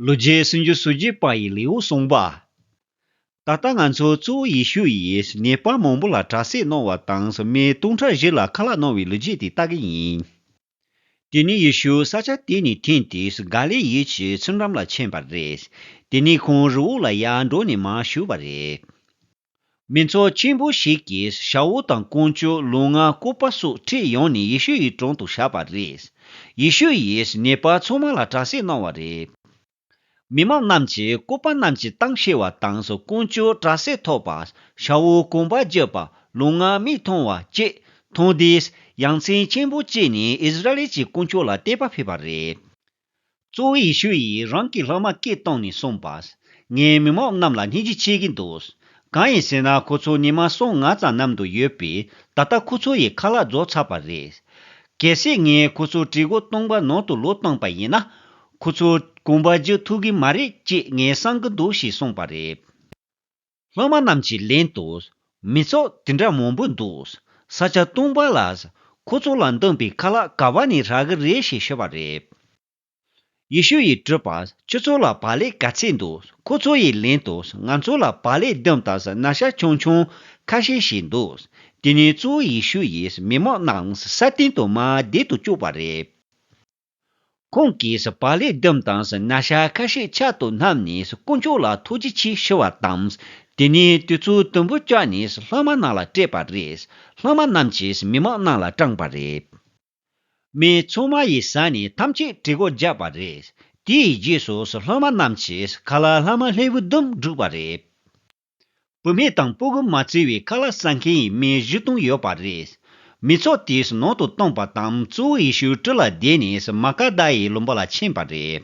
ལོ་རྒྱུས་སུན་འབྱིན་སུ་འབྱིན་པ་ཡི་ལེའུ་གསུངས་པ། ད་ལྟ་ང་ཚོ་གཙོ་བོ་ཡེ་ཤུ་ཡིས་ཉེས་པ་མང་པོ་ལ་དྲག་བསེད་གནང་བ་དང་སོ་མའི་སྟོང་ཕྲག་བཞི་ལ་ཁ་ལག་གནང་བའི་ལོ་རྒྱུས་དེ་ལྟ་གི་ཡིན། དེ་ནས་ཡེ་ཤུ་ས་ཆ་དེ་ནས་འཐེན་ཏེ་སོ་ག་ལའི་ཡུལ་གྱི་ཚུར་འགྲམ་ལ་ཕྱིན་པ་རེད། དེ་ནས་ཁོང་རི་བོ་ལ་ཡར་འགྲོ་ནས་མར་བཞུར་བ་རེད། མི་ཚོགས་ཆེན་པོ་ཞིག་གིས་ཞའོ་ཝུ་དང་ཀོང་ཅོ་ལུང་ང་སྐུ་པ་སོགས་ཁྲིད་ཡོང་ནས་ཡེ་ཤུ་ཡི་དྲུང་དུ་བཞག་པ་རེད། ཡེ་ཤུ་ཡིས་ཉེས་པ་ཚང་མ་ལ་གྲྭ་སྲེག་གནང་བ་རེད། མི་མང་རྣམས་ཀྱིས་སྐུ་པ་རྣམས་ཀྱི་གཏམ་ཤེས་བ་དང་སོ་ཀོང་ཅོ་གྲྭ་སྲེག་ཐོག་པ། ཞའོ་ཝུ་ཀོང་པ་རྒྱུད་པ་ལུང་ང་མིག་མཐོང་བ་བཅས་མཐོང་དུས། ཡ་མཚན་ཆེན་པོ་སྐྱེས་ནས་ཨིས་ར་ལེལ་གྱི་དཀོན་མཆོག་ལ་བལྟས་པ་ཕེབས་པ་རེད། གཙོ་བོ་ཡེ་ཤུ་ཡིས་རང་གི་སློབ་མ་སྐད་བཏང་ནས་གསུངས་པ། ངས་མི་མང་རྣམས་ལ་སྙིང་རྗེ་ཆེ་གི་འདུག། གང་ཡིན་ཟེར་ན་ཁོ་ཚོ་ཉི་མ་སོ་ལྔ་ཙམ་ནམ་དུ་ཡོད་པས་ད་ལྟ་ཁོ་ཚོ་ཡི་ཁ་ལ་རྫོགས་ཚར་བ་རེད། གལ་སྲིད་ངས་ཁོ་ཚོ་གྲི་གུག་སྟོང་པ་ནང་དུ་ལོག་བཏང་པ་ཡིན་ན། ཁོ་ཚོ་གོམ་པ་རྒྱག་ཐུབ་གི་མ་རེད་ཅེས་ངས་བསམ་གི་འདུག་ཞེས་གསུངས་པ་རེད། ལྷག་མ་རྣམས་ཀྱི་ལན་དུ། མི་ཚོགས་དེ་འདྲ་མང་པོ་འདུག། ས་ཆ་སྟོང་པ་ལ། ཁོ་ཚོ་ལ་མདུན་པའི་ཁ་ལག་ག་བ་ནས་རག་གི་རེད་ཞེས་ཤོད་པ་རེད། ཡེ་ཤུ་ཡིས་སྤྲོས་པ་ཁྱོད་ཚོ་ལ་བག་ལེ་ག་ཚད་འདུག་ཁོ་ཚོ་ཡི་ལན་དུ་ང་ཚོ་ལ་བག་ལེ་ལྡུམ་དང་སྣག་ཤ་ཆུང་ཆུང་ཁ་ཤས་ཤིག་འདུག་དེ་ནས་གཙོ་བོ་ཡེ་ཤུ་ཡིས་མི་མང་རྣམས་ས་སྟེང་དུ་མ་བསྡད་དུ་བཅུག་པ་རེད། ཁོང་གིས་པ་ལས་ལྡེམ་དང་ན་བྱ་ཁ་ཤས་ཕྱག་ཏུ་བསྣམས་ནས་དཀོན་མཆོག་ལ་ཐུགས་རྗེ་ཆེ་ཞུ་བ་དང། དེ་ནས་དུས་ཚོད་དུམ་བུ་བསྐྱལ་ནས་ལྷག་མ་རྣམས་ལ་སྤྲད་པ་རེད། ལྷག་མ་རྣམས་ཀྱིས་མི་མང་རྣམས་ལ་སྐྲངས་པ་རེད། མི་ཚང་མ་ཡི་ཟ་ནས་ཐམས་ཅད་གྲི་གུག་རྒྱག་པ་རེད། དེའི་རྗེས་སུ་ལྷག་མ་རྣམས་ཀྱིས་ག་ལ་ལྷག་མ་ལྷའི་བུ་ལྡུམ་བསྒྲུགས་པ་རེད། བུད་མེད་དང་སྤུ་གུ་མ་བརྩི་བའི་ཁ་ལག་ཟ་མཁན་ཡིན་མིན་བཞི་སྟོང་ཡོད་པ་རེད། མི་ཚོགས་དེས་ནང་དུ་བཏང་པ་དང་གཙོ་བོ་ཡེ་ཤུའི་ཁྲི་ལ་བསྡད་ནས་མཱ་ཀ་དཱ་ཡི་ལུང་པ་ལ་ཕྱིན་པ་རེད།